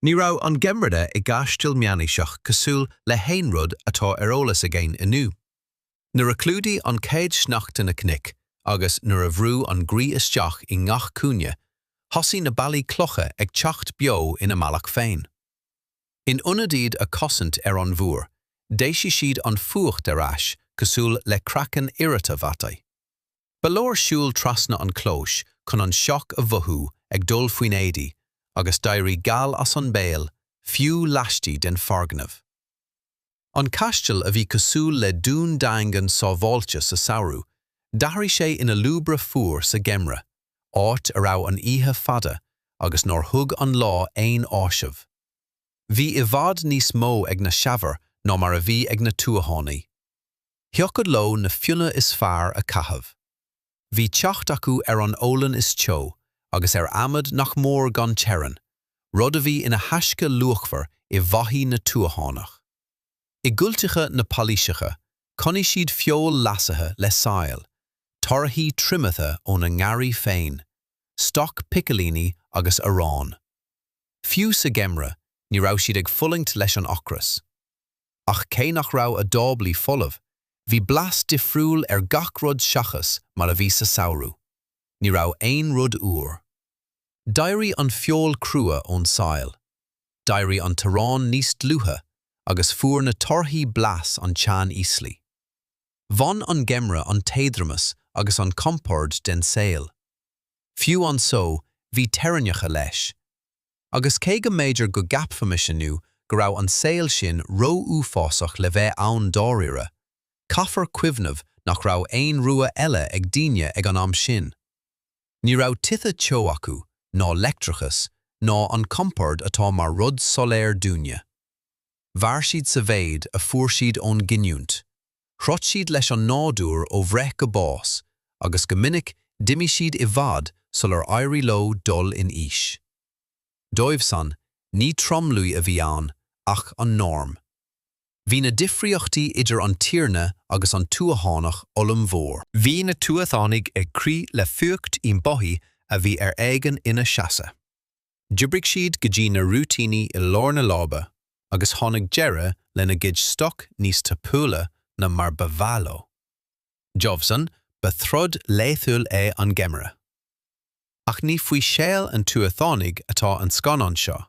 Ní raibh an geimreadh i gcaisleán meánaoiseach cosúil le haon rud atá ar eolas againn inniu. Nuair a chlúdaigh an chéad sneachta na cnoic agus nuair a bhrú an ghaoth isteach i ngach cúinne, thosaigh na ballaí cloiche ag teacht beo ina mbealach féin. In ionad iad a chosaint ar an bhfuacht, d'éisigh siad an fuacht ar ais cosúil le craiceann oighreata bhataí. Ba leor siúl trasna an chlóis chun an sioc a mhothú ag dul faoi na héadaí agus d'éirigh gal as an mbéal fiú laistigh den foirgneamh. An caisleán a bhí cosúil le dún daingean sábháilte sa samhradh, d'athraigh sé ina lúbra fuar sa gheimreadh, áit a raibh an oíche fada agus nár thug an lá aon fhaoiseamh. Bhí i bhfad níos mó ag na Seamhair ná mar a bhí ag na tuathánaigh. Thiocfadh leo na fionnadh is fearr a chaitheamh. Bhí teacht acu ar an olann is teo agus ar adhmad nach mór gan teorainn, rud a bhí ina thaisce luachmhar i bhfeithí na tuathánach. I gcúlteacha na bpálás, choinnigh siad feoil leasaithe le saill, torthaí triomaithe óna ngarraí féin, stoc picilíní agus arán. Fiú sa gheimreadh, ní raibh siad ag fulaingt leis an ocras. ach cé nach raibh a dtáblaí folamh, bhí blas difriúil ar gach rud seachas mar a bhí sa samhradh. Ní raibh aon rud úr. D'éirigh an feoil crua ón tsaill, d'éirigh an t-arán níos dlúithe agus fuair na torthaí blas an tseaníoslaigh. Bhain an geimreadh an t-éadromas agus an compord den saol. Fiú an só, bhí teorainneacha leis. agus cé go mb'fhéidir go gceapfaimis inniu go raibh an saol sin ró-uafásach le bheith ann dáiríre, caithfear cuimhneamh nach raibh aon rogha eile ag daoine ag an am sin. Ní raibh tithe teo acu, ná leictreachas, ná an compord atá mar rud soiléir dúinne. Mhair siad sa mhéid a fuair siad ón gcinniúint. Throid siad leis an nádúr ó bhreith go bás agus go minic d'imigh siad i bhfad sular éirigh leo dul in aois. Dóibhsan, ní tromluí a bhí ann ach an norm. Bhí na difríochtaí idir an tiarna agus an tuathánach ollmhór. Bhí na tuathánaigh ag crith le fuacht i mbothaí a bhí ar éigean ina seasamh. D'oibrigh siad go dtí na rúitíní i lár na láibe agus tháinig deireadh lena gcuid stoc níos tapúla ná mar ba mhaith leo. Dóibhsan, ba throid laethúil é an geimhreadh. Ach ní faoi shaol an tuathánaigh atá an scannán seo.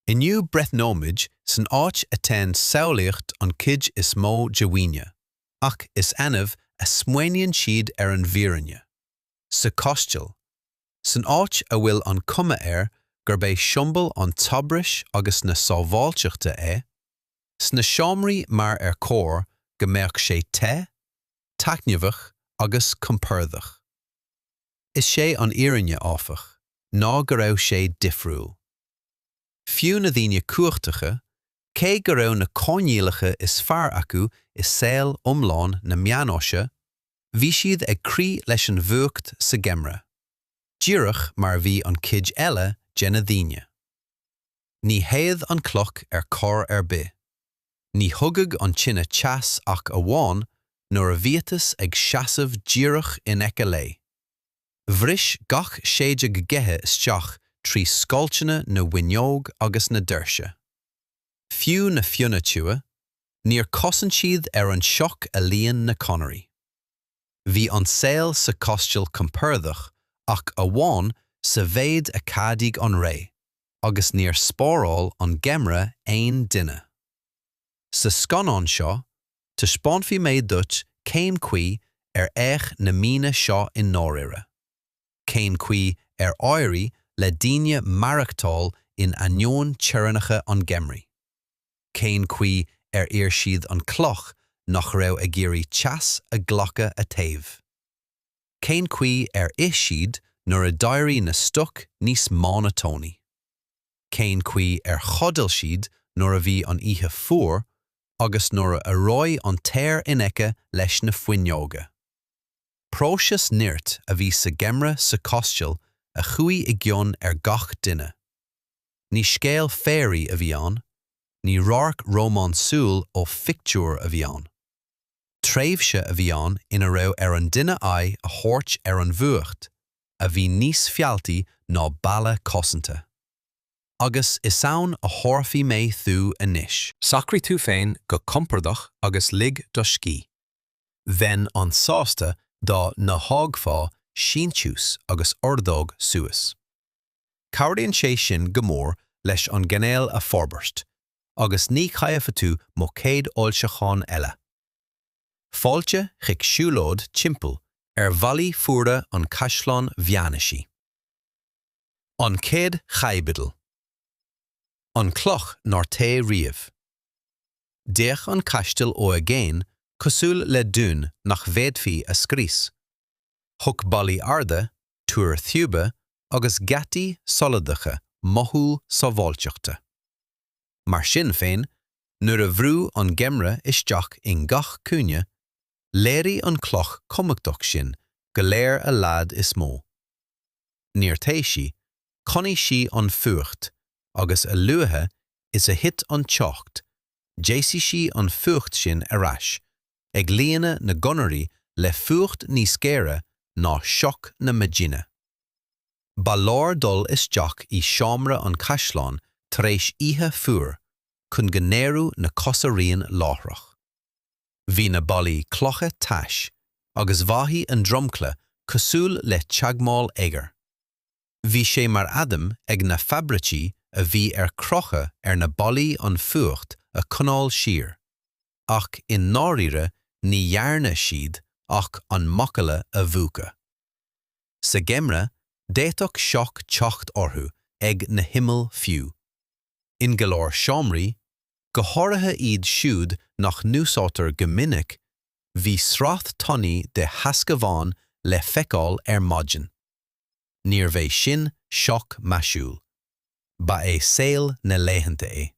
Inniu breathnóimid san áit a dtéann samhlaíocht an chuid is mó de dhaoine, ach is annamh a smaoiníonn siad ar an bhfírinne. Sa chaisleán, san áit a bhfuil an chuma air gurb é siombail an tsaibhris agus na sábháilteachta é, sna seomraí mar ar chóir go mbeadh sé te, taitneamhach agus compordach. Is sé an fhírinne, áfach, ná go raibh sé difriúil. Fiú na daoine cumhachtacha, cé go raibh na coinníollacha is fearr acu i saol iomlán na meánaoise, bhí siad ag crith leis an bhfuacht sa gheimreadh, díreach mar a bhí an chuid eile de na daoine. Ní théadh an chloch ar chor ar bith. Ní thugadh an tine teas ach amháin nuair a bhíotas ag seasamh díreach in aice léi. Bhris gach séideadh gaoithe isteach trí scoilteanna na bhfuinneog agus na doirse. Fiú na fionnaidh teo, níor chosain siad ar an sioc a líon na conairí. Bhí an saol sa chaisteal compordach ach amháin sa mhéid a cheadaigh an ré agus níor spáráil an geimreadh aon duine. Sa scannán seo, taispeánfaidh mé duit cén chaoi ar fhéach na míonna seo i ndáirire. cén chaoi ar éirigh le daoine maireachtáil in ainneoin teorainneacha an gheimridh? Cén chaoi ar iarr siad an chloch nach raibh ag iarraidh teas a ghlacadh a téamh? Cén chaoi ar ith siad nuair a d'éirigh na stoic níos mónotónaí? Cén chaoi ar chodail siad nuair a bhí an oíche fuar agus nuair a reoigh an t-aer in aice leis na fuinneoga? Próiseas nirt a bhí sa gheimreadh sa chaisteal a chuaigh i gcion ar gach duine. Ní scéal féirí a bhí ann, ní radharc rómánsúil ó phictiúr a bhí ann. Tréimhse a bhí ann ina raibh ar an duine aghaidh a thabhairt ar an bhfuacht, a bhí níos fealltaí ná balla cosanta. Agus is ann a thabharfaidh mé thú anois. Socraigh tú féin go compordach agus lig do scíth. Bheinn an-sásta dá n-fhágfá síntiús agus ordóg suas. Cabhraíonn sé sin go mór leis an gcainéal a fhorbairt, agus ní chaillfidh tú mo chéad fhoilseachán eile. Fáilte chuig siúlóid timpeall ar bhallaí fuara an Chaisleáin Mheánaoisigh. An Chéad Chaibidil. An Chloch nár théigh Riamh. D'fhéach an caisteal ó i gcéin cosúil le dún nach bhféadfaí a scrios. Thug ballaí arda, túir thiubha agus geataí soladacha mothú sábháilteachta. Mar sin féin, nuair a bhrúigh an geimreadh isteach i ngach cúinne, léirigh an chloch chumhachtach sin go léir a locht is mó. níor téigh sí, choinnigh sí an fuacht, agus a luaithe is a thit an teocht, d'eisigh sí an fuacht sin ar ais, ag líonadh na gconairí le fuacht níos géire ná sioc na maidine. Ba leor dul isteach i seomra an chaisleáin tar éis oíche fuar chun go n-éireodh na cosa righin láithreach. bhí na ballaí cloiche tais agus mhothaigh an dromchla cosúil le teagmháil oighir. Bhí sé mar aidhm ag na fabhraicí a bhí ar crochadh ar na ballaí an fuacht a choinneáil siar, ach i ndáiríre ní dhearna siad ach an macalla a mhúchadh. Sa gheimreadh, d'fhéadfadh sioc teacht orthu ag na himill fiú. in go leor seomraí, go háirithe iad siúd nach n-úsáidtear go minic, bhí sraith tanaí de theascabháin le feiceáil ar maidin. Níorbh é sin sioc maisiúil. Ba é saol na laethanta é.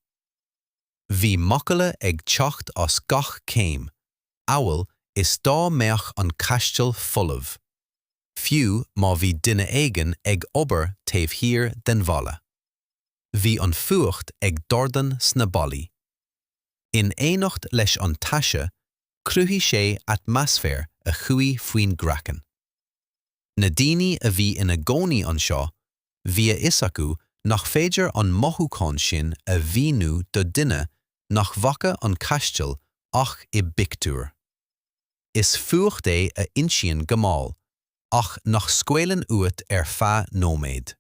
Bhí macalla ag teacht as gach céim, amhail is dá mbeadh an caisteal folamh, fiú má bhí duine éigin ag obair taobh thiar den bhalla. Bhí an fuacht ag dordán sna ballaí. In éineacht leis an taise, chruthaigh sé atmaisféar a chuaigh faoin gcraiceann. Na daoine a bhí ina gcónaí anseo, bhí a fhios acu nach féidir an mothúchán sin a mhíniú do dhuine nach bhfaca an Caisteal ach i bpictiúr. Is fuacht é a insíonn go mall ach nach scaoileann uait ar feadh nóiméid.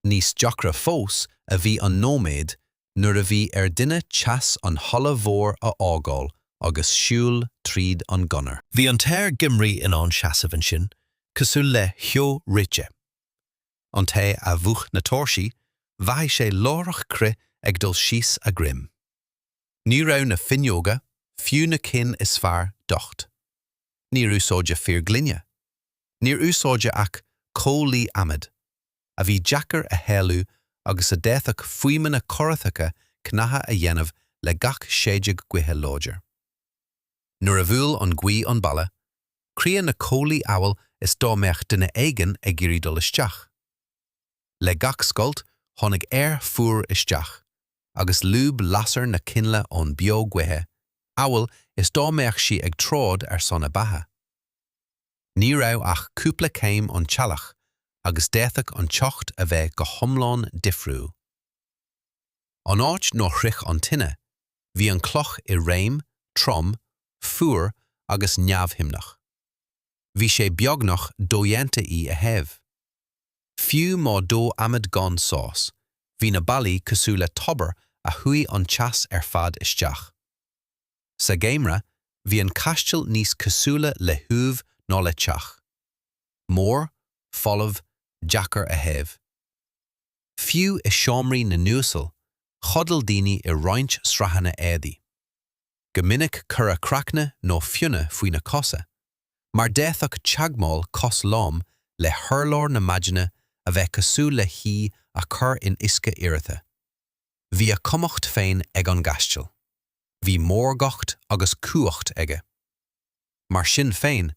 Níos deacra fós a bhí an nóiméad nuair a bhí ar dhuine teas an halla mhóir a fhágáil agus siúl tríd an gconair. Bhí an t-aer geimhridh in ann seasamh ansin cosúil le ceo reoite. An té a mhúch na tóirsí, mhothaigh sé láithreach crith ag dul síos a dhroim. Ní raibh na finneoga, fiú na cinn is fearr, docht. Níor úsáideadh fíorghloine. Níor úsáideadh ach comhlaí adhmaid. a bhí deacair a shéalú agus a d'fhéadfadh fuaimeanna corraitheacha cnagtha a dhéanamh le gach séideog gaoithe láidir. Nuair a bhuail an ghaoth an balla, chrith na comhlaí amhail is dá mbeadh duine éigin ag iarraidh dul isteach. Le gach scoilt tháinig aer fuar isteach, agus lúb lasair na coinnle ón bhfeo gaoithe, amhail is dá mbeadh sí ag troid ar son a beatha. Ní raibh ach cúpla céim ón teallach agus d'fhéadfadh an teocht a bheith go hiomlán difriúil. An áit nár shroich an tine, bhí an chloch i réim, trom, fuar agus neamhshuimneach. Bhí sé beagnach dodhéanta í a théamh. Fiú má dódh adhmad gan sos, bhí na ballaí cosúil le tobar a shúigh an teas ar fad isteach. Sa gheimhreadh, bhí an caisleán níos cosúla le huaimh ná le teach. Mór, folamh, deacair a théamh. Fiú i seomraí na n-uasal, chodail daoine i roinnt sraitheanna éadaí. Go minic cuireadh craicne nó fionnadh faoi na cosa, mar d'fhéadfadh teagmháil cos lom le hurlár na maidine a bheith cosúil le hí a chur in uisce oighreata. Bhí a chumhacht féin ag an gcaisleán. Bhí mórgacht agus cumhacht aige. Mar sin féin,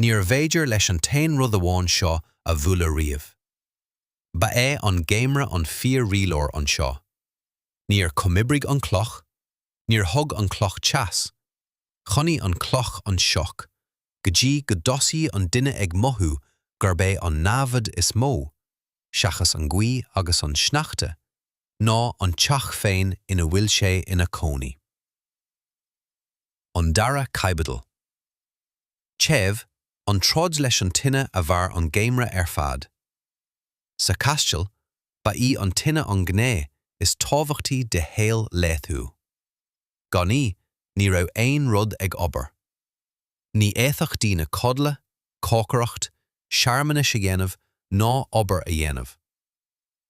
níor bhféidir leis an t-aon rud amháin seo a bhualadh riamh. Ba é an geimreadh an fíor-rialóir anseo. Níor chomhoibrigh an cloch, níor thug an cloch teas, choinnigh an cloch an sioc, go dtí go dtosaíodh an duine ag mothú gurb é an namhaid is mó, seachas an ghaoth agus an sneachta, ná an teach féin ina bhfuil sé ina chónaí. An Dara Caibidil. Téamh, an troid leis an tine a mhair an geimhreadh ar fad. Sa chaisleán, ba í an tine an ghné is tábhachtaí de shaol laethúil. Gan í, ní raibh aon rud ag obair. Ní fhéadfadh daoine codladh, cócaireacht, searmanais a dhéanamh ná obair a dhéanamh.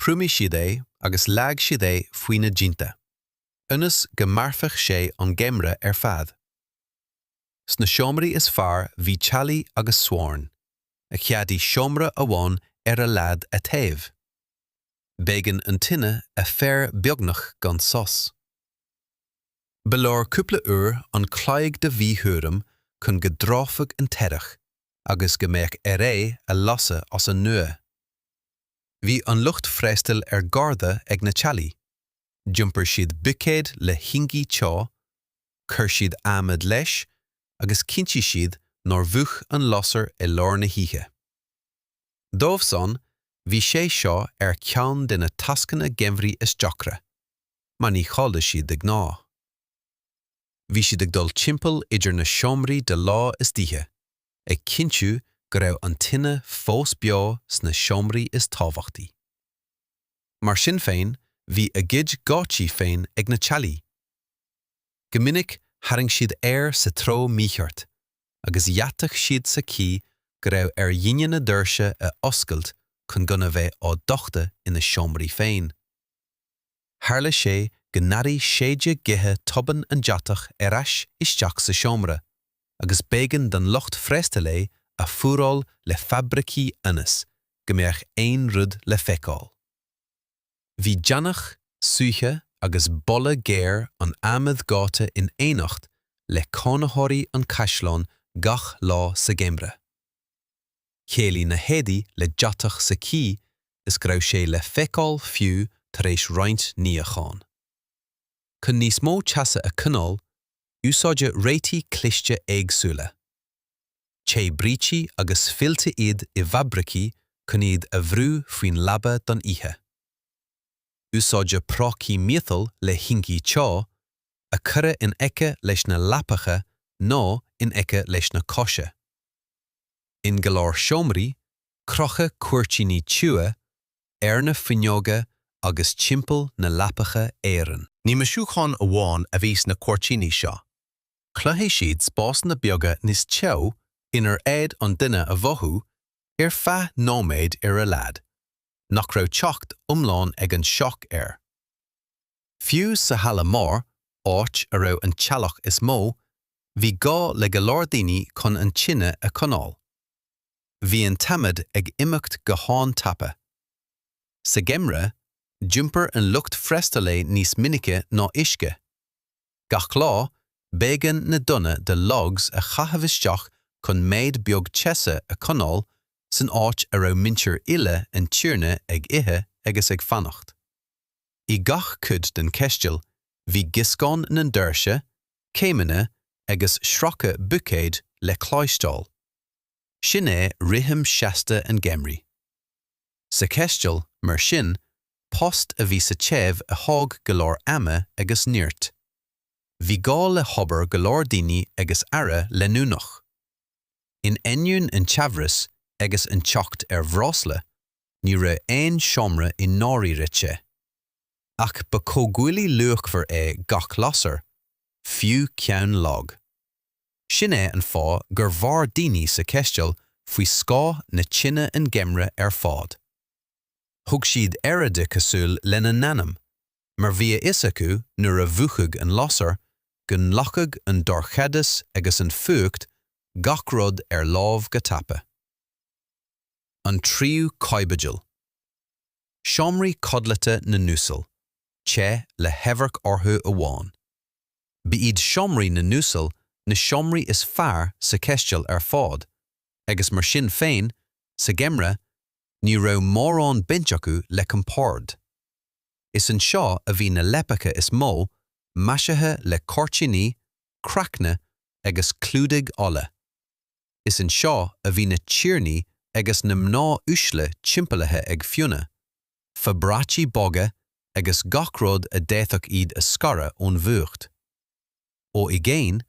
thriomaigh siad é agus leag siad é faoi na díonta, ionas go mairfeadh sé an geimhreadh ar fad. Sna seomraí is fearr bhí teallaigh agus sorn, a cheadaigh seomra amháin ar a laghad a théamh. B'éigean an tine a fhaire beagnach gan sos. Ba leor cúpla uair an chloig de mhíchúram chun go dtráfadh an teallach agus go mbeadh air é a lasadh as an nua. Bhí an lucht freastail ar garda ag na teallaigh. D'iompair siad buicéad le haibhleoga teo, chuir siad adhmad leis agus chinntigh siad nár mhúch an lasair i lár na hoíche. Dóibh san, bhí sé seo ar cheann de na tascanna geimhridh is deacra, mar ní chodlaíodh siad de ghnáth. Bhí siad ag dul timpeall idir na seomraí de lá is d'oíche, ag cinntiú go raibh an tine fós beo sna seomraí is tábhachtaí. Mar sin féin, bhí a gcuid geáitsí féin ag na teallaigh. Go minic tharraing siad aer sa treo mícheart agus dheataigh siad sa chaoi go raibh ar dhaoine na doirse a oscailt chun gan a bheith á dtachtadh ina seomraí féin. Tharla sé go n-airigh séideadh gaoithe tobann an deatach ar ais isteach sa seomra. agus b'éigean don lucht freastail é a fuaráil le fabraicí ionas go mbeadh aon rud le feiceáil. Bhí deannach, súiche agus boladh géar an adhmaid dhóite in éineacht le cónaitheoirí an chaisleáin gach lá sa gheimreadh. Chéilí na héadaí le deatach sa chaoi is go raibh sé le feiceáil fiú tar éis roinnt níocháin. Chun níos mó teasa a choinneáil, Úsáideadh réitigh chliste éagsúla. Téadh brící agus fillte iad i bhfabraicí chun iad a bhrú faoin leaba don oíche. Úsáideadh prócaí miotail le hingí teo, a cuireadh in aice leis na leapacha nó in aice leis na coise. In go leor seomraí, crochadh cuirtíní tiubha, ar na fuinneoga agus timpeall na leapacha araon. Ní maisiúcháin amháin a bhí sna cuirtíní seo. Chruthaigh siad spásanna beaga níos teo inar fhéad an duine a mhothú, ar feadh nóiméid ar a laghad, nach raibh teacht iomlán ag an sioc air. Fiú sa Halla Mór, áit a raibh an teallach is mó, bhí gá le go leor daoine chun an tine a choinneáil. Bhí an t-adhmad ag imeacht go han-tapa. Sa gheimreadh, d'iompar an lucht freastail é níos minice ná uisce. Gach lá, b'éigean na dtonna de logs a chaitheamh isteach chun méid beag teasa a choinneáil san áit a raibh muintir uile an tiarna ag ithe agus ag fanacht. I gach cuid den chaisteal, bhí gioscán na ndoirse, céimeanna agus sracadh buicéid le cloisteáil. Sin é rithim seasta an gheimridh. Sa chaisteal, mar sin, post a bhí sa téamh a thóg go leor ama agus nirt. Bhí gá le hobair go leor daoine agus aire leanúnach. In ainneoin an tsaibhris agus an teacht ar bhreosla, ní raibh aon seomra i ndáiríre te. ach ba comhghuaillí luachmhar é gach lasair, fiú ceann lag. Sin é an fáth gur mhair daoine sa chaisteal faoi scáth na tine an geimreadh ar fad. Thug siad aire di cosúil lena n-anam, mar bhí a fhios acu nuair a mhúchfadh an lasair go nglacfadh an dorchadas agus an fuacht gach rud ar láimh go tapa. An Tríú Caibidil. seomraí codlata na n-uasal, te le hamharc orthu amháin. Ba iad seomraí na n-uasal na seomraí is fearr sa chaisteal ar fad, agus mar sin féin, sa gheimreadh, ní raibh mórán baint acu le compord. Is anseo a bhí na leapacha is mó, maisithe le cuirtíní, craicne agus clúdaigh olla. Is anseo a bhí na tiarnaí agus na mná uaisle timpeallaithe ag fionnadh, fabraicí boga agus gach rud a d'fhéadfadh iad a scaradh ón bhfuacht. Ó i gcéin,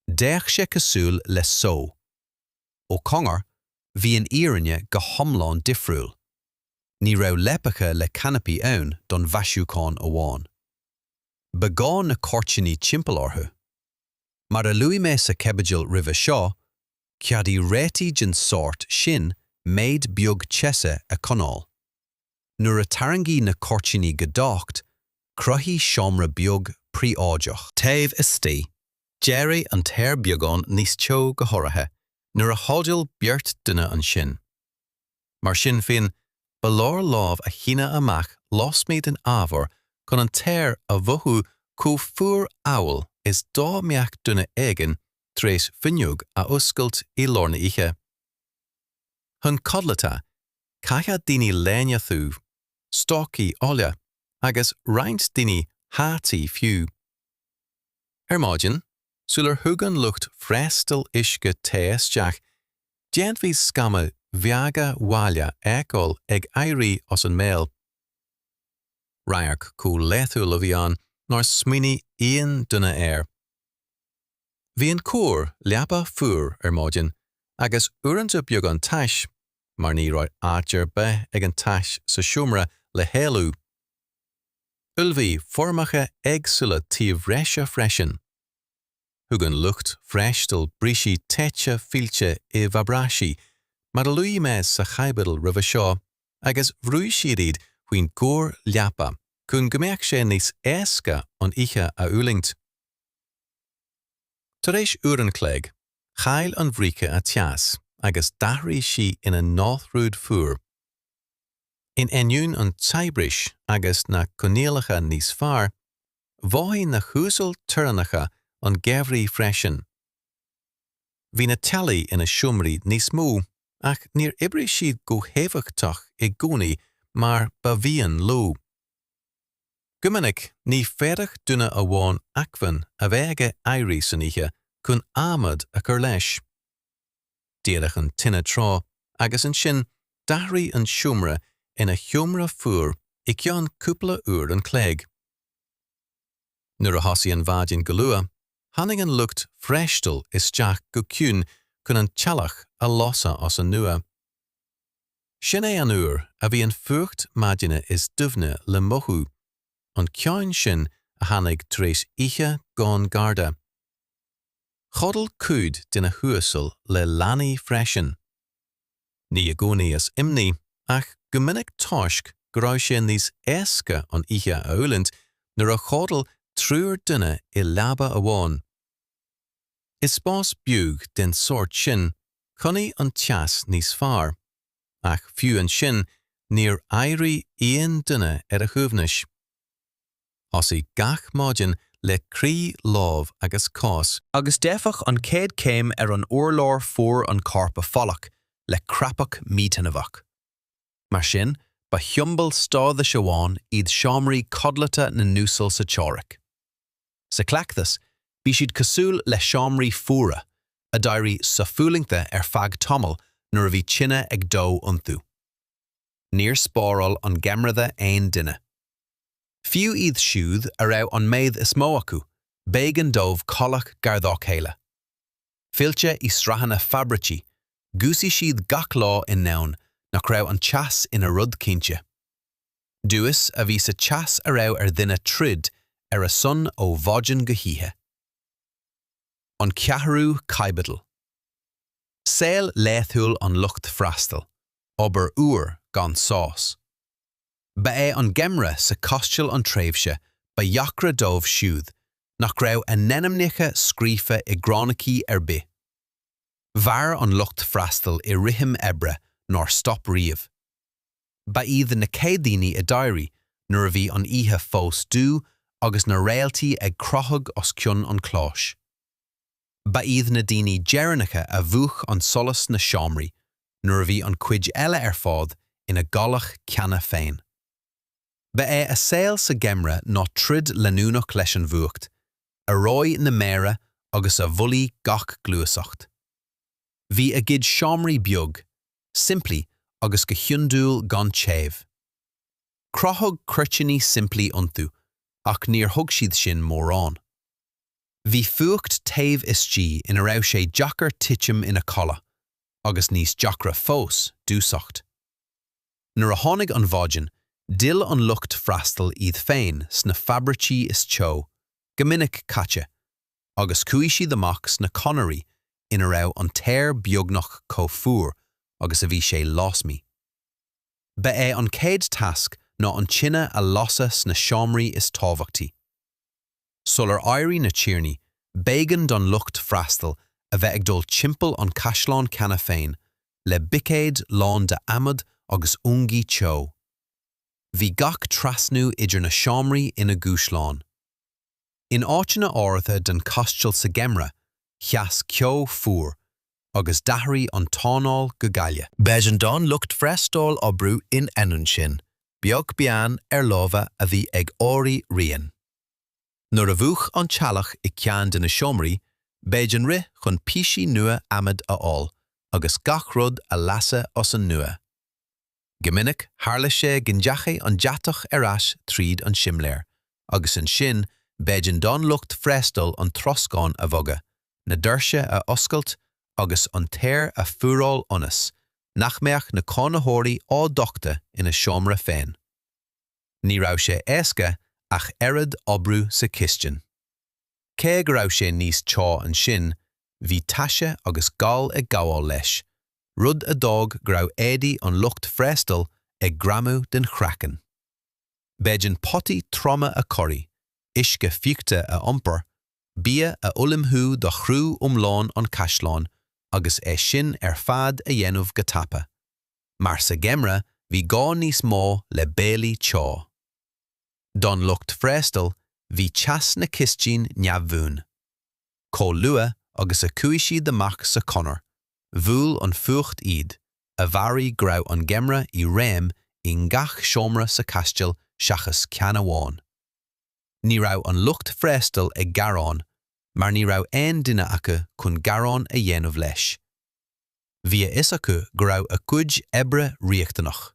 d'fhéach sé cosúil le só. Ó chóngar, bhí an fhírinne go hiomlán difriúil. Ní raibh leapacha le canapaí ann don mhaisiúchán amháin. ba ghá na cuirtíní timpeall orthu. Mar a luaigh mé sa chaibidil roimhe seo, cheadaigh réitigh den sórt sin méid beag teasa a choinneáil. Nuair a tarraingíodh na cuirtíní go docht, cruthaíodh seomra beag príobháideach. Taobh istigh, d'éirigh an t-aer beagán níos teo go háirithe nuair a chodail beirt duine ansin. Mar sin féin, ba leor lámh a shíneadh amach lasmuigh den ábhar chun an t-aer a mhothú chomh fuar amhail is dá mbeadh duine éigin tar éis fuinneog a oscailt i lár na oíche. Chun codlata, chaithfeadh daoine léine thiubh, stocaí olla agus roinnt daoine hataí fiú. Ar maidin, sular thug an lucht freastail uisce te isteach, D'fhéadfaí scamaill bheaga ghaile a fheiceáil ag éirí as an mbéal. Radharc chomh laethúil a bhí ann nár smaoinigh aon duine air. Bhí an chóir leapa fuar ar maidin agus uaireanta beagán tais mar ní raibh áit ar bith ag an tais sa seomra le héalú. Ullmhaíodh foirmeacha éagsúla taobh reise freisin. Thug an lucht freastail bricí téite fillte i bhfabraicí, mar a luaigh mé sa chaibidil roimhe seo, agus bhrúigh siad iad faoin gcóir leapa chun go mbeadh sé níos éasca an oíche a fhulaingt. Tar éis uair an chloig, chaill an bhríce a teas agus d'athraigh sí ina náthrud fuar. In ainneoin an tsaibhris agus na coinníollacha níos fearr, Mhothaigh na huasail toirneacha an geimhridh freisin. Bhí na teallaigh ina seomraí níos mó ach níor oibrigh siad go héifeachtach i gcónaí mar ba mhian leo. Go minic ní fhéadfadh duine amháin acmhainn a bheith aige éirí san oíche chun adhmad a chur leis. Dhódh an tine tráth agus ansin d'athraigh an seomra ina sheomra fuar i gceann cúpla uair an chloig. Nuair a thosaigh an mhaidin go luath, tháinig an lucht freastail isteach go ciúin chun an teallach a lasadh as an nua. Sin é an uair a bhí an fuacht maidine is doimhne le mothú, an ceann sin a tháinig tar éis oíche gan garda. Chodail cuid de na huasail le leanaí freisin. Ní i gcónaí as imní, ach go minic toisc go raibh sé níos éasca an oíche a fhulaingt nuair a chodail triúr duine i leaba amháin. I spás beag den tsórt sin, choinnigh an teas níos fearr, ach fiú ansin níor éirigh aon duine ar a shuaimhneas. Thosaigh gach maidin le crith lámh agus cos. Agus d'fhéadfadh an chéad céim ar an urlár fuair an corp a pholladh le crapadh míthaitneamhach. Mar sin, ba shiombail stádais amháin iad seomraí codlata na n-uasal sa teoiric. Sa chleachtas, bhí siad cosúil le seomraí fuara, a d'éirigh sofhulaingthe ar feadh tamaill nuair a bhí tine ag dó iontu. Níor spáráil an geimhreadh aon duine. Fiú iad siúd a raibh an méad is mó acu, b'éigean dóibh codladh gar dá chéile. Fillte i sraitheanna fabraicí, dhúsaigh siad gach lá i ndomhan nach raibh an teas ina rud cinnte. Duais a bhí sa teas a raibh ar dhuine troid ar a son ó mhaidin go hoíche. An Cheathrú Caibidil. Saol laethúil an lucht freastail, obair fhuar gan sos. Ba é an geimhreadh sa chaisteal an tréimhse ba dheacra dóibh siúd nach raibh a n-ainmneacha scríofa i gcránaicí ar bith. Mhair an lucht freastail i rithim oibre nár stop riamh. Ba iad na chéad daoine a d'éirigh nuair a bhí an oíche fós dubh agus na réaltaí ag crochadh os cionn an chlóis. Ba iad na daoine deireanacha a mhúch an solas sna seomraí nuair a bhí an chuid eile ar fad ina gcodladh cheana féin. Ba é a saol sa gheimhreadh ná troid leanúnach leis an bhfuacht, a reodh na méara agus a mhoillíodh gach gluaiseacht. Bhí a gcuid seomraí beag, simplí agus go hiondúil gan téamh. Crochadh cuirtíní simplí iontu ach níor thug siad sin mórán. Bhí fuacht taobh istigh ina raibh sé deacair titim ina chodladh, agus níos deacra fós, dúiseacht. Nuair a tháinig an mhaidin, d'fhill an lucht freastail iad féin sna fabraicí is teo, go minic caite, agus chuaigh siad amach sna conairí ina raibh an t-aer beagnach chomh fuar agus a bhí sé lasmuigh. Ba é an chéad tasc ná an tine a lasadh sna seomraí is tábhachtaí. Sular éirigh na tiarnaí, b'éigean don lucht freastail a bheith ag dul timpeall an chaisleáin cheana féin le buicéid lán de adhmad agus ungaí teo. Bhí gach trasnú idir na seomraí ina dhúshlán. In áiteanna áirithe den chaisteal sa gheimhreadh, sheas ceo fuar, agus d'athraigh an t-anáil go gaile. B'éigean don lucht freastail oibriú in ainneoin sin, beag beann ar lámha a bhí ag éirí righin. Nuair a mhúch an teallach i ceann de na seomraí, b'éigean rith chun píosaí nua adhmaid a fháil agus gach rud a lasadh as an nua. Go minic tharla sé go ndeachaigh an deatach ar ais tríd an simléar agus ansin b'éigean don lucht freastail an troscán a bhogadh, na doirse a oscailt agus an t-aer a fhuaráil ionas nach mbeadh na cónaitheoirí á dtachtadh ina seomra féin. ní raibh sé éasca ach oiread oibriú sa chistin. Cé go raibh sé níos teo ansin, bhí taise agus gal ag gabháil leis, rud a d'fhág go raibh éadaí an lucht freastail ag greamú den chraiceann. B'éigean potaí troma a chorraí, uisce fiuchta a iompar, bia a ullmhú do chriú iomlán an chaisleáin agus é sin ar fad a dhéanamh go tapa. mar sa gheimreadh bhí gá níos mó le béilí teo. Don lucht freastail bhí teas na cistine neamhbhuan. Chomh luath agus a chuaigh siad amach sa chonair, bhuail an fuacht iad, a mheabhraigh go raibh an geimreadh i réim i ngach seomra sa chastil seachas ceann amháin. Ní raibh an lucht freastail ag gearán mar ní raibh aon duine acu chun gearán a dhéanamh leis. Bhí a fhios acu go raibh a gcuid oibre riachtanach.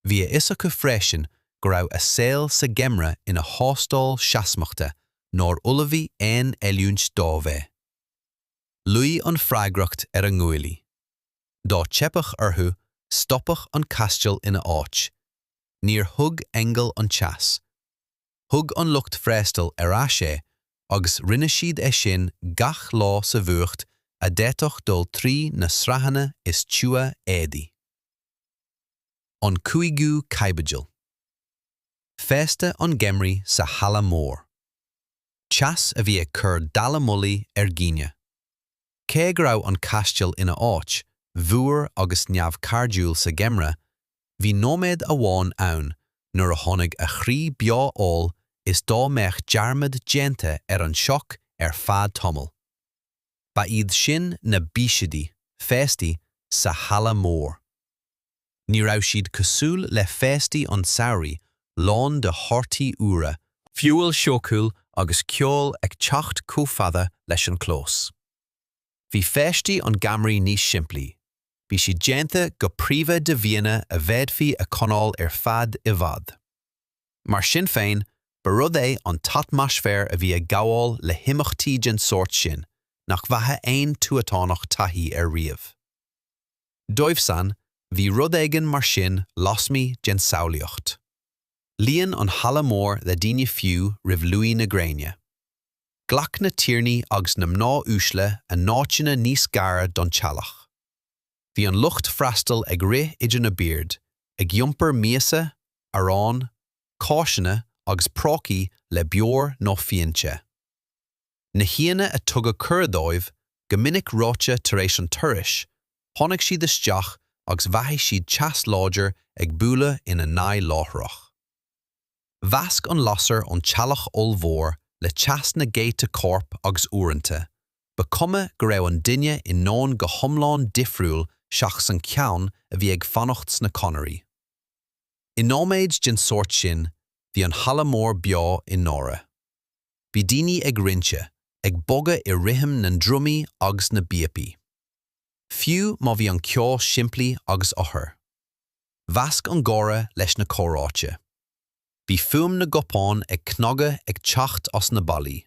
Bhí a fhios acu freisin go raibh a saol sa gheimreadh ina thástáil seasmachta nár ullmhaigh aon oiliúint dóibh é. Luí an freagracht ar a nguaillí. Dá dteipeadh orthu, stopfadh an caisteal ina áit. Níor thug aingeal an teas. thug an lucht freastail ar ais é agus rinne siad e sin gach lá sa bhfuacht a d'fhéadfadh dul trí na sraitheanna is tiubha éadaí. An Cúigiú Caibidil Féasta an gheimridh sa halla mór. Teas a bhí ag cur dallamullóg ar dhaoine. Cé go raibh an caisteal ina áit fhuar agus neamhchairdiúil sa gheimreadh, Bhí nóiméad amháin ann nuair a tháinig a chroí beo amhail is dá mbeadh dearmad déanta ar an sioc ar feadh tamaill. Ba iad sin na bísidí, féastaí, sa halla mór. Ní raibh siad cosúil le féastaí an tsamhraidh lán de thorthaí úra, feoil shúmhar agus ceol ag teacht chomh fada leis an gclós. Bhí féastaí an gheimhridh níos simplí, bhí siad déanta go príomha de bhianna a bhféadfaí a choinneáil ar feadh i bhfad. Mar sin féin, ba rud é an t-atmaisféar a bhí ag gabháil le himeachtaí den sórt sin nach bhfaigheadh aon tuatánach taithí air riamh. Dóibhsan, bhí rud éigin mar sin lasmuigh den tsamhlaíocht. Líon an halla mór le daoine fiú roimh luí na gréine. Ghlac na tiarnaí agus na mná uaisle a n-áiteanna níos gaire don teallach. Bhí an lucht freastail ag rith idir na boird, ag iompar miasa, arán, cáiseanna agus prócaí le beoir nó fíon te. Na haíonna ar tugadh cuireadh dóibh, go minic reoite tar éis an turais, tháinig siad isteach agus mhothaigh siad teas láidir ag bualadh ina n-aghaidh láithreach. Mheasc an lasair ón teallach ollmhór le teas na gcéadta corp agus uaireanta, ba chuma go raibh an duine i ndomhan go hiomlán difriúil seachas an ceann a bhí ag fanacht sna conairí. I nóiméid den sórt sin, bhí an halla mór beo i ndáiríre. Bhí daoine ag rince, ag bogadh i rithim na ndrumaí agus na bpíopaí. Fiú má bhí an ceol simplí agus odhar. Mheasc an gáire leis na comhráite. Bhí fuaim na gcupán ag cnagadh ag teacht as na ballaí.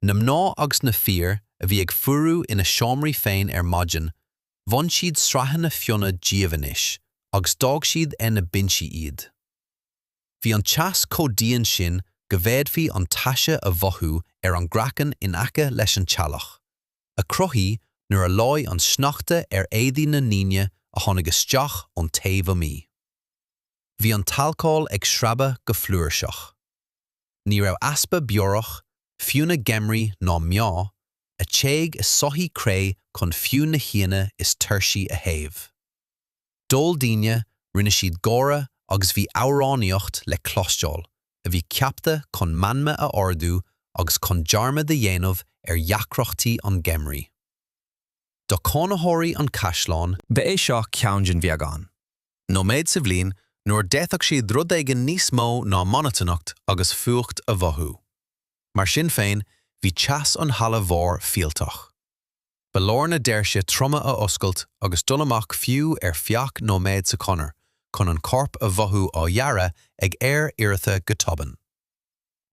Na mná agus na fir a bhí ag fuarú ina seomraí féin ar maidin, bhain siad sraitheanna fionnaidh díobh anois agus d'fhág siad ar na binsí iad. Bhí an teas chomh dian sin go bhféadfaí an taise a mhothú ar an gcraiceann in aice leis an teallach. a cruthaíodh nuair a leáigh an sneachta ar éadaí na ndaoine a tháinig isteach ón taobh amuigh. Bhí an t-alcól ag sreabadh go flúirseach. Ní raibh easpa beorach, fíona geimhridh, ná meá, a téadh i soithí cré chun fiú na haíonna is tuirsí a théamh. D'ól daoine, rinne siad gáire agus bhí amhránaíocht le cloisteáil a bhí ceaptha chun meanma a ardú agus chun dearmad a dhéanamh ar dheacrachtaí an gheimridh. Do chónaitheoirí an chaisleáin, ba é seo ceann den bheagán nóiméad sa bhliain nuair a d'fhéadfadh siad rud éigin níos mó ná monotanacht agus fuacht a mhothú. Mar sin féin, bhí teas an halla mhóir fealltach. Ba leor na doirse troma a oscailt agus dul amach fiú ar feadh nóiméad sa chonair chun an corp a mhothú á ghearradh ag aer oighreata go tobann.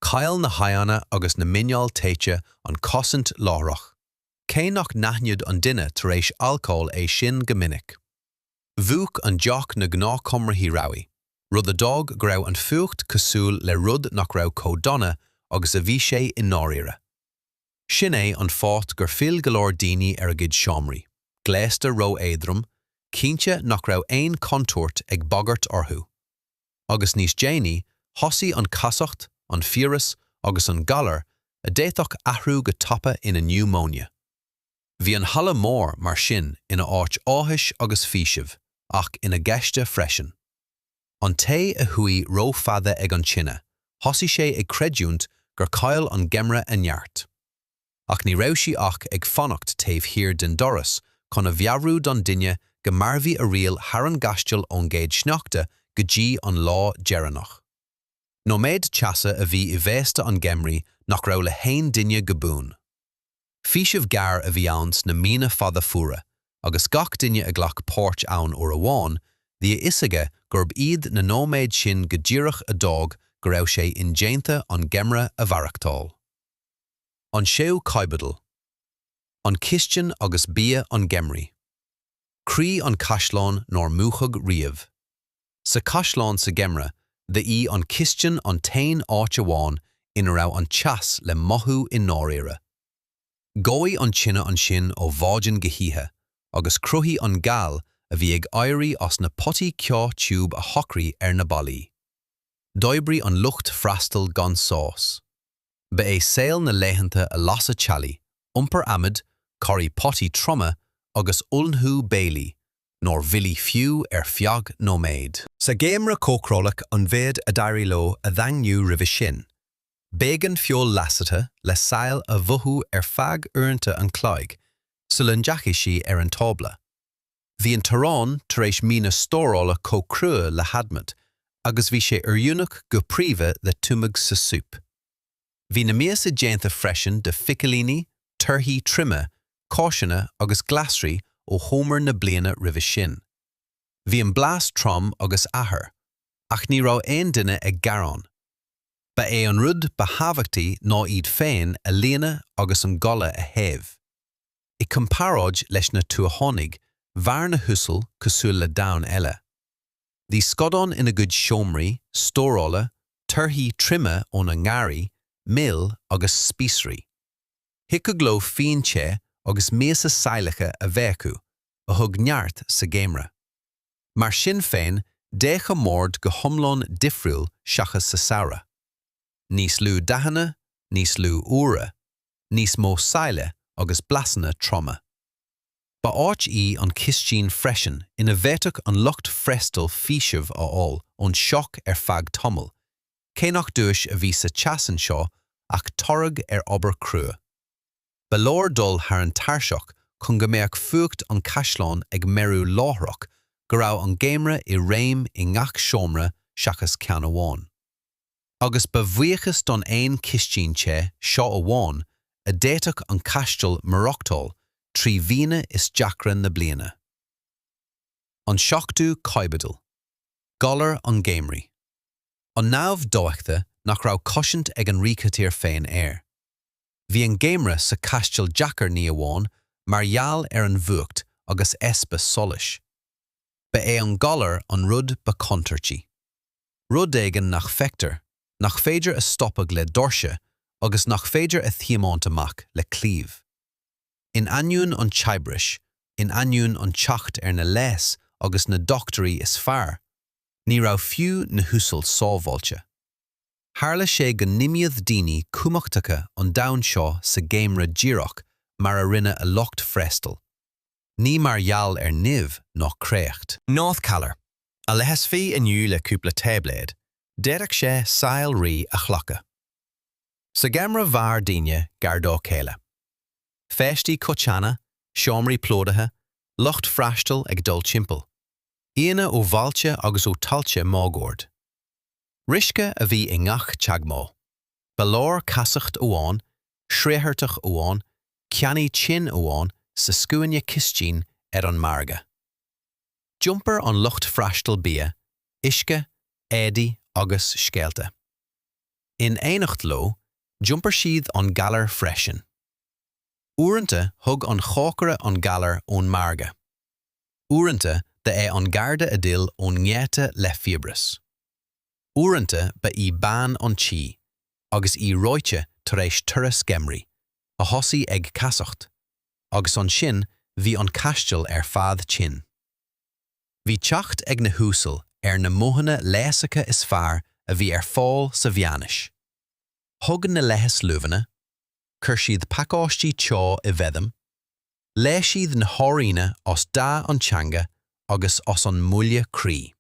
Chaill na haghaidheanna agus na muineáil téite an chosaint láithreach, cé nach n-aithneodh an duine tar éis alcóil é sin go minic. Mhúch an deoch na gnáthchomharthaí rabhaidh, rud a d'fhág go raibh an fuacht cosúil le rud nach raibh chomh dona agus a bhí sé i ndáiríre. Sin é an fáth gur fhill go leor daoine ar a gcuid seomraí, gléasta ró-éadrom, cinnte nach raibh aon chontúirt ag bagairt orthu. Agus níos déanaí, thosaigh an casacht, an fiabhras agus an galar a d'fhéadfadh athrú go tapa ina niúmóine. Bhí an halla mór, mar sin, ina áit áthais agus faoisimh, ach ina ghaiste freisin. An té a shuigh ró-fhada ag an tine, thosaigh sé ag creidiúint gur chaill an geimreadh a neart. Ach ní raibh sí ach ag fanacht taobh thiar den doras chun a mheabhrú don duine go mairfidh a riail thar an gcaisteal ón gcéad sneachta go dtí an lá deireanach. Nóiméad teasa a bhí i bhféasta an gheimridh nach raibh le haon duine go buan. Faoiseamh gearr a bhí ann sna míonna fada fuara agus gach duine a ghlac páirt ann uair amháin, bhí a fhios aige gurb iad na nóiméid sin go díreach a d'fhág go raibh sé indéanta an geimhreadh a mhaireachtáil. An séú caibidil. An chistin agus bia an gheimhridh. Croí an chaisleáin nár múchadh riamh. Sa chaisleán sa gheimhreadh ba í an chistin an t-aon áit amháin ina raibh an teas le mothú i ndáiríre. Dhóigh an tine ansin ó mhaidin go hoíche agus chruthaigh an ghal a bhí ag éirí as na potaí ceo tiubh a shocraigh ar na ballaí. D'oibrigh an lucht freastail gan sos. Ba é saol na laethanta a lasadh teallaigh, iompar adhmaid, corraí potaí troma agus ullmhú béilí, nár mhoilligh fiú ar feadh nóiméid. Sa gheimhreadh cócaráladh an méid a d'éirigh leo a dhaingniú roimhe sin, b'éigean feoil leasaithe le saill a mhaothú ar feadh uaireanta an chloig sula ndeachaigh sí ar an tábla. Bhí an t-arán tar éis míonna stórála chomh crua le hadhmad agus bhí sé oiriúnach go príomha le tumadh sa súp. Bhí na miasa déanta freisin de phicilíní, torthaí tirime, cáiseanna agus glasraí ó fhómhar na bliana roimhe sin. Bhí an blas trom agus athair, ach ní raibh aon duine ag gearán. Ba é an rud ba thábhachtaí ná iad féin a líonadh agus an goile a théamh. I gcomparáid leis na tuathánaigh, mhair na huasal cosúil le domhan eile. Bhí scadáin ina gcuid seomraí stórála, torthaí tirime óna ngarraí, mil agus spíosraí. Thiocfadh leo fíon te agus miasa sailleacha a bheith acu, a thug neart sa gheimreadh. Mar sin féin, d'fhéach a mbord go hiomlán difriúil seachas sa samhradh. Níos lú dathanna, níos lú úire, níos mó saille agus blasanna troma. Ba áit í an chistin freisin ina bhféadfadh an lucht freastail faoiseamh a fháil ón sioc ar feadh tamaill, cé nach duais a bhí sa teas anseo ach toradh ar obair chrua. Ba leor dul thar an tairseach chun go mbeadh fuacht an chaisleáin ag meabhrú láithreach, go raibh an geimhreadh i réim i ngach seomra seachas ceann amháin. agus ba bhuíochas don aon chistin te seo amháin a d'fhéadfadh an Caisteal maireachtáil trí mhíonna is deacra na bliana. An Seachtú Caibidil Galar an Gheimhridh An namh dóigte nach raibh cosaint ag an ríchathaoir féin air. Bhí an geimhreadh sa Chaisteal deacair ní amháin mar gheall ar an bhfuacht agus easpa solais. Ba é an galar an rud ba chontúirtí. rud éigin nach feictear, nach féidir a stopadh le doirse agus nach féidir a thiomáint amach le claíomh. In ainneoin an tsaibhris, in ainneoin an teacht ar na leigheas agus na dochtúirí is fearr, ní raibh fiú na huasal sábháilte. Tharla sé go n-imíodh daoine cumhachtacha an domhain seo sa gheimhreadh díreach mar a rinne a lucht freastail, ní mar gheall ar nimh ná créacht. Gnáthghalar, a leigheasfaí inniu le cúpla táibléad, d'fhéadfadh sé saol rí a ghlacadh. Sa gheimhreadh mhair daoine gar dá chéile. Féastaí coiteanna, seomraí plódaithe, lucht freastail ag dul timpeall, aíonna ó bhailte agus ó thailte máguaird. Riosca a bhí i ngach teagmháil. Ba leor casacht amháin, sraothartach amháin, ceannaí tinn amháin sa scuaine cistine ar an margadh. d'iompar an lucht freastail bia, uisce, éadaí agus scéalta. In éineacht leo, d'iompar siad an galar freisin. Uaireanta thug an chócaire an galar ón margadh. Uaireanta ba é an garda a d'fhill ón ngeata le fiabhras. Uaireanta ba í bean an tí, agus í reoite tar éis turas geimhridh, a thosaigh ag casacht. agus ansin bhí an caisteal ar fad tinn. Bhí teacht ag na huasal ar na modhanna leigheasacha is fearr a bhí ar fáil sa mheánaois. Thug na leigheas luibheanna, chuir siad pacáistí teo i bhfeidhm, léigh siad na hairíonna as dath an teanga agus as an mbuille croí.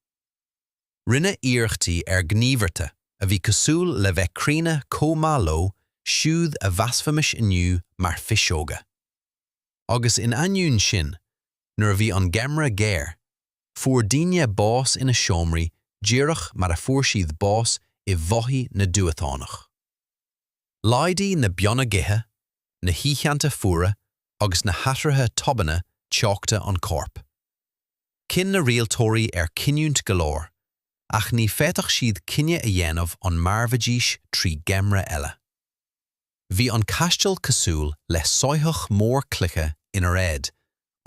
rinneadh iarrachtaí ar ghníomhartha a bhí cosúil le bheith críonna comh maith leo siúd a mheasfaimis inniu mar phiseoga. Agus in ainneoin sin, nuair a bhí an geimhreadh géar, fuair daoine bás ina seomraí díreach mar a fuair siad bás i mbothaí na dtuathánach. Laghdaigh na beanna gaoithe, na hoícheanta fuara agus na hathruithe tobanna teochta an corp. Chinn na rialtóirí ar chinniúint go leor, ach ní féadfadh siad cinneadh a dhéanamh an mairfidís trí gheimhreadh eile. Bhí an caisteal cosúil le soitheach mór cloiche inar fhéad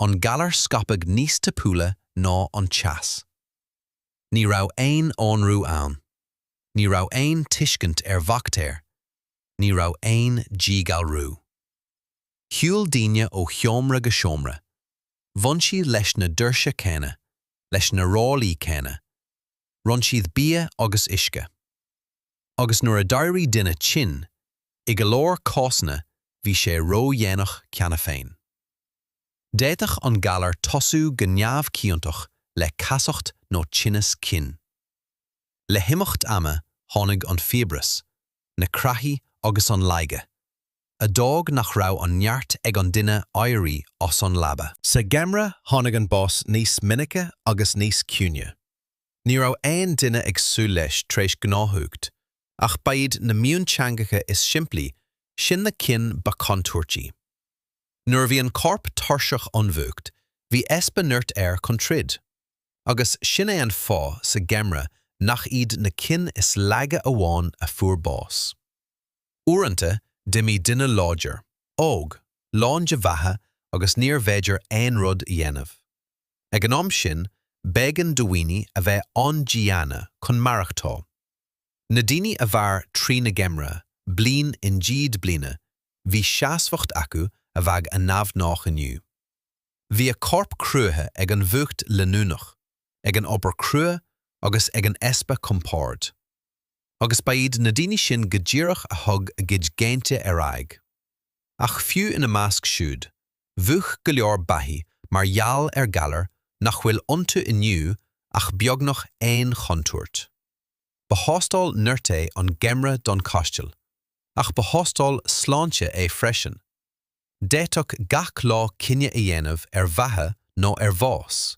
an galar scaipeadh níos tapúla ná an teas. Ní raibh aon aonrú ann. Ní raibh aon tuiscint ar bhaictéir. Ní raibh aon díghalrú. Shiúil daoine ó sheomra go seomra. bhain siad leis na doirse céanna, leis na ráillí céanna, roinn siad bia agus uisce. Agus nuair a d'éirigh duine tinn, i go leor cásanna bhí sé ródhéanach cheana féin. D'fhéadfadh an galar tosú go neamhchiontach le casacht nó tinneas cinn. Le himeacht ama tháinig an fiabhras, na creathaí agus an laige. a d'fhág nach raibh an neart ag an duine éirí as an leaba. Sa gheimhreadh tháinig an bás níos minice agus níos ciúine. Ní raibh aon duine ag súil leis tar éis gnáthfhuacht, ach ba iad na mionteangacha is simplí sin na cinn ba chontúirtí. Nuair a bhí an corp tuirseach ón bhfuacht, bhí easpa nirt air chun troid. Agus sin é an fáth sa gheimhreadh nach iad na cinn is laige amháin a fuair bás. Uaireanta, d'imigh duine láidir, óg, lán de bheatha agus níorbh fhéidir aon rud a dhéanamh. Ag an am sin, b'éigean do dhaoine a bheith an-diana chun maireachtáil. Na daoine a mhair trí na geimhrí, bliain i ndiaidh bliana, bhí seasmhacht acu a bheadh an-neamhghnách inniu. Bhí a corp cruaithe ag an bhfuacht leanúnach, ag an obair crua agus ag an easpa compoird. agus ba iad na daoine sin go díreach a thug a gcuid géinte ar aghaidh. Ach fiú ina measc siúd, mhúch go leor beathaí mar gheall ar ghalair nach bhfuil iontu inniu ach beagnach aon chontúirt. Ba thástáil nirt é an geimreadh don chaisteal, ach ba thástáil sláinte é freisin. D'fhéadfadh gach lá cinneadh a dhéanamh ar bheatha nó ar bhás.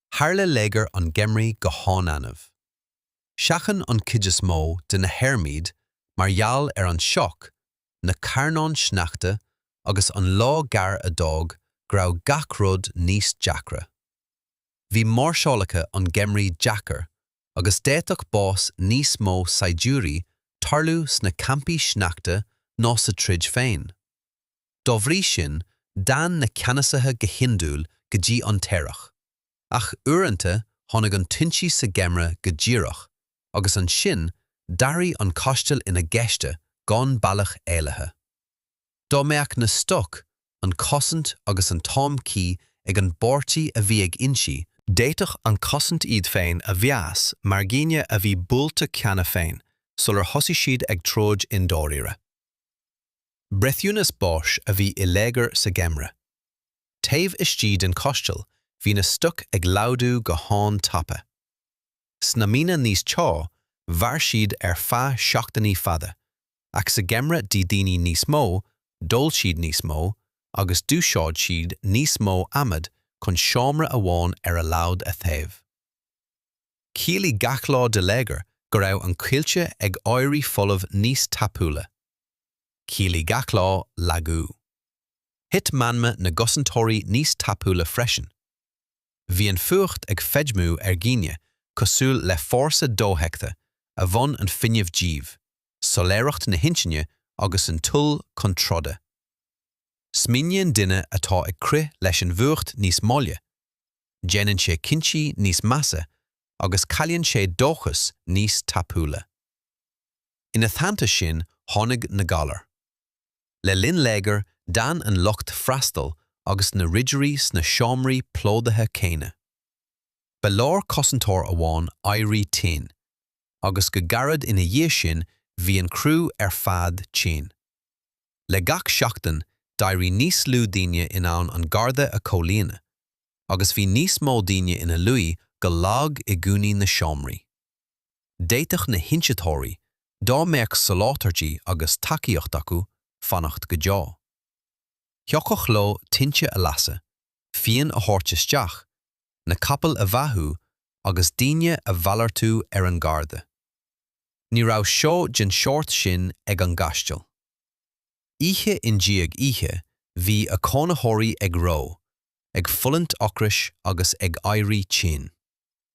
tharla léigear an gheimhridh go han-annamh. Sheachain an chuid is mó de na hairm iad mar gheall ar an sioc, na carnáin sneachta agus an lá gearr a d'fhág go raibh gach rud níos deacra. Bhí máirseálacha an gheimhridh deacair agus d'fhéadfadh bás níos mó saighdiúirí tarlú sna campaí sneachta ná sa troid féin. Dá bhrí sin, d'fhan na ceannasaithe go hiondúil go dtí an t-earrach, ach uaireanta tháinig an t-ionsaí sa gheimreadh go díreach, agus ansin d'athraigh an caisteal ina ghaiste gan bealach éalaithe. Dá mbeadh na stoic, an chosaint agus an t-am cuí ag an bpáirtí a bhí ag ionsaí, d'fhéadfadh an chosaint iad féin a mheas mar dhaoine a bhí buailte cheana féin sular thosaigh siad ag troid i ndáiríre. Breithiúnas báis a bhí i léigear sa gheimhreadh. Taobh istigh den chaisteal bhí na stoic ag laghdú go han-tapa. Sna míonna níos teo mhair siad ar feadh seachtainí fada, ach sa gheimhreadh d'ith daoine níos mó, d'ól siad níos mó, agus d'úsáid siad níos mó adhmad chun seomra amháin ar a laghad a théamh. Chiallaigh gach lá de léigear go raibh an coillte ag éirí folamh níos tapúla. Chiallaigh gach lá lagú. Thit meanma na gcosantóirí níos tapúla freisin. Bhí an fuacht ag feidhmiú ar dhaoine cosúil le fórsa dofheicthe a bhain an fuinneamh díobh, soiléireacht na hintinne agus an toil chun troda. Smaoiníonn duine atá ag crith leis an bhfuacht níos moille, déanann sé cinntí níos measa agus cailleann sé dóchas níos tapúla. Ina theannta sin, tháinig na galair. Le linn léigir, d'fhan an lucht freastail agus na ridirí sna seomraí plódaithe céanna. Ba leor cosantóir amháin éirí tinn, agus go gairid ina dhiaidh sin bhí an criú ar fad tinn. Le gach seachtain, d'éirigh níos lú daoine in ann an garda a chomhlíonadh, agus bhí níos mó daoine ina luí go lag i gcúinní na seomraí. D'fhéadfadh na hionsaitheoirí, dá mbeadh soláthairtí agus tacaíocht acu, fanacht go deo. Thiocfadh leo tinte a lasadh, fíon a thabhairt isteach, na capaill a bheathú agus daoine a mhalartú ar an gharda. Ní raibh só den sórt sin ag an gcaisteal. Oíche i ndiaidh oíche bhí a cónaitheoirí ag reo, ag fulaingt ocrais agus ag éirí tinn.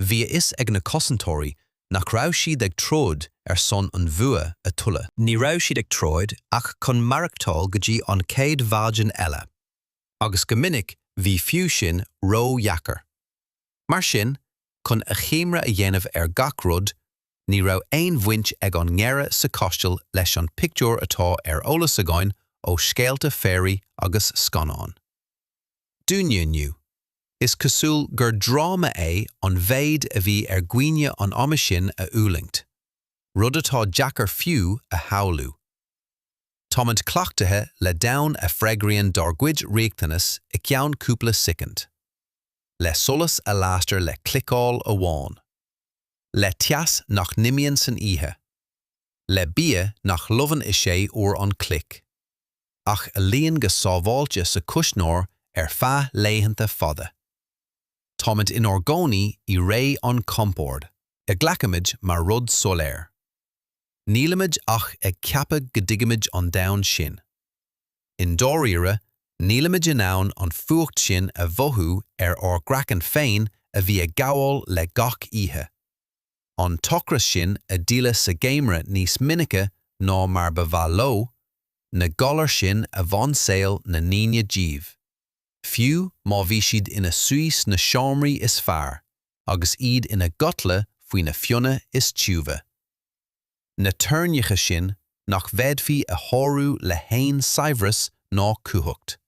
bhí a fhios ag na cosantóirí nach raibh siad ag troid ar son an bhua a thuilleadh. Ní raibh siad ag troid ach chun maireachtáil go dtí an chéad mhaidin eile, agus go minic bhí fiú sin ródheacair. Mar sin, chun achoimre a dhéanamh ar gach rud, ní raibh aon bhaint ag an ngeimhreadh sa chaisteal leis an pictiúr atá ar eolas againn ó scéalta fairy agus scannáin. Dúinn inniu Is cosúil gur dráma é an mhéid a bhí ar dhaoine an ama sin a fhulaingt, rud atá deacair fiú a shamhlú. Táimid cleachtaithe le domhan a freagraíonn dár gcuid riachtanas i gceann cúpla soicind. Le solas a lastar le cliceáil amháin. Le teas nach n-imíonn san oíche. Le bia nach lobhann i sé uair an chloig. ach a luíonn go sábháilte sa chuisneoir ar feadh laethanta fada. Táimid inár gcónaí i ré an chompoird, a ghlacaimid mar rud soiléir. Nílimid ach ag ceapadh go dtuigimid an domhan sin. I ndáiríre, nílimid in ann an fuacht sin a mhothú ar ár gcraiceann féin a bhí ag gabháil le gach oíche. an t-ocras sin a d'fhilleadh sa gheimhreadh níos minice ná mar ba mhaith leo, na galair sin a bhain saol na ndaoine díobh, fiú má bhí siad ina suí sna seomraí is fearr agus iad ina gcodladh faoi na fionnaidh is tiubha. Na teorainneacha sin nach bhféadfaí a shárú le haon saibhreas ná cumhacht.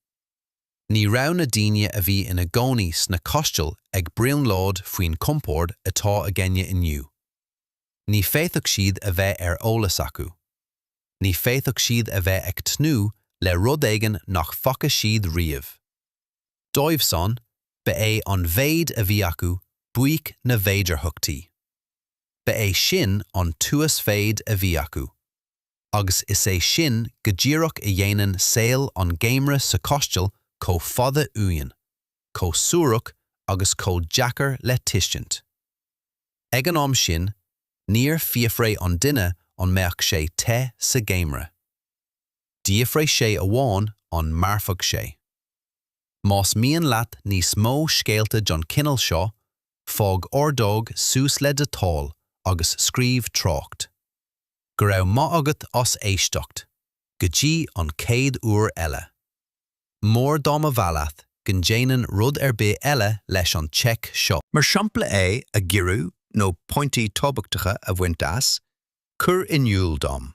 Ní raibh na daoine a bhí ina gcónaí sna caistil ag brionglóid faoin chompord atá againne inniu. Ní fhéadfadh siad a bheith ar eolas acu. Ní fhéadfadh siad a bheith ag tnúth le rud éigin nach bhfaca siad riamh. Dóibhsan, ba é an mhéid a bhí acu buaic na bhféidearthachtaí. Ba é sin an t-uasmhéid a bhí acu. agus is é sin go díreach a dhéanann saol an gheimhridh sa chaisteal chomh fada uainn, chomh suarach agus chomh deacair le tuiscint. Ag an am sin, níor fhiafraigh an duine an mbeadh sé te sa gheimhreadh. D'fhiafraigh sé amháin an mairfeadh sé. Más mian leat níos mó scéalta den chineál seo, fág ordóg suas le do thoil agus scríobh trácht. Go raibh maith agat as éisteacht, go dtí an chéad uair eile. Mór dá mba mhaith leat go ndéanfainn rud ar bith eile leis an téacs seo. Mar shampla é a ghiorrú nó pointí tábhachtacha a bhaint as, cuir in iúl dom.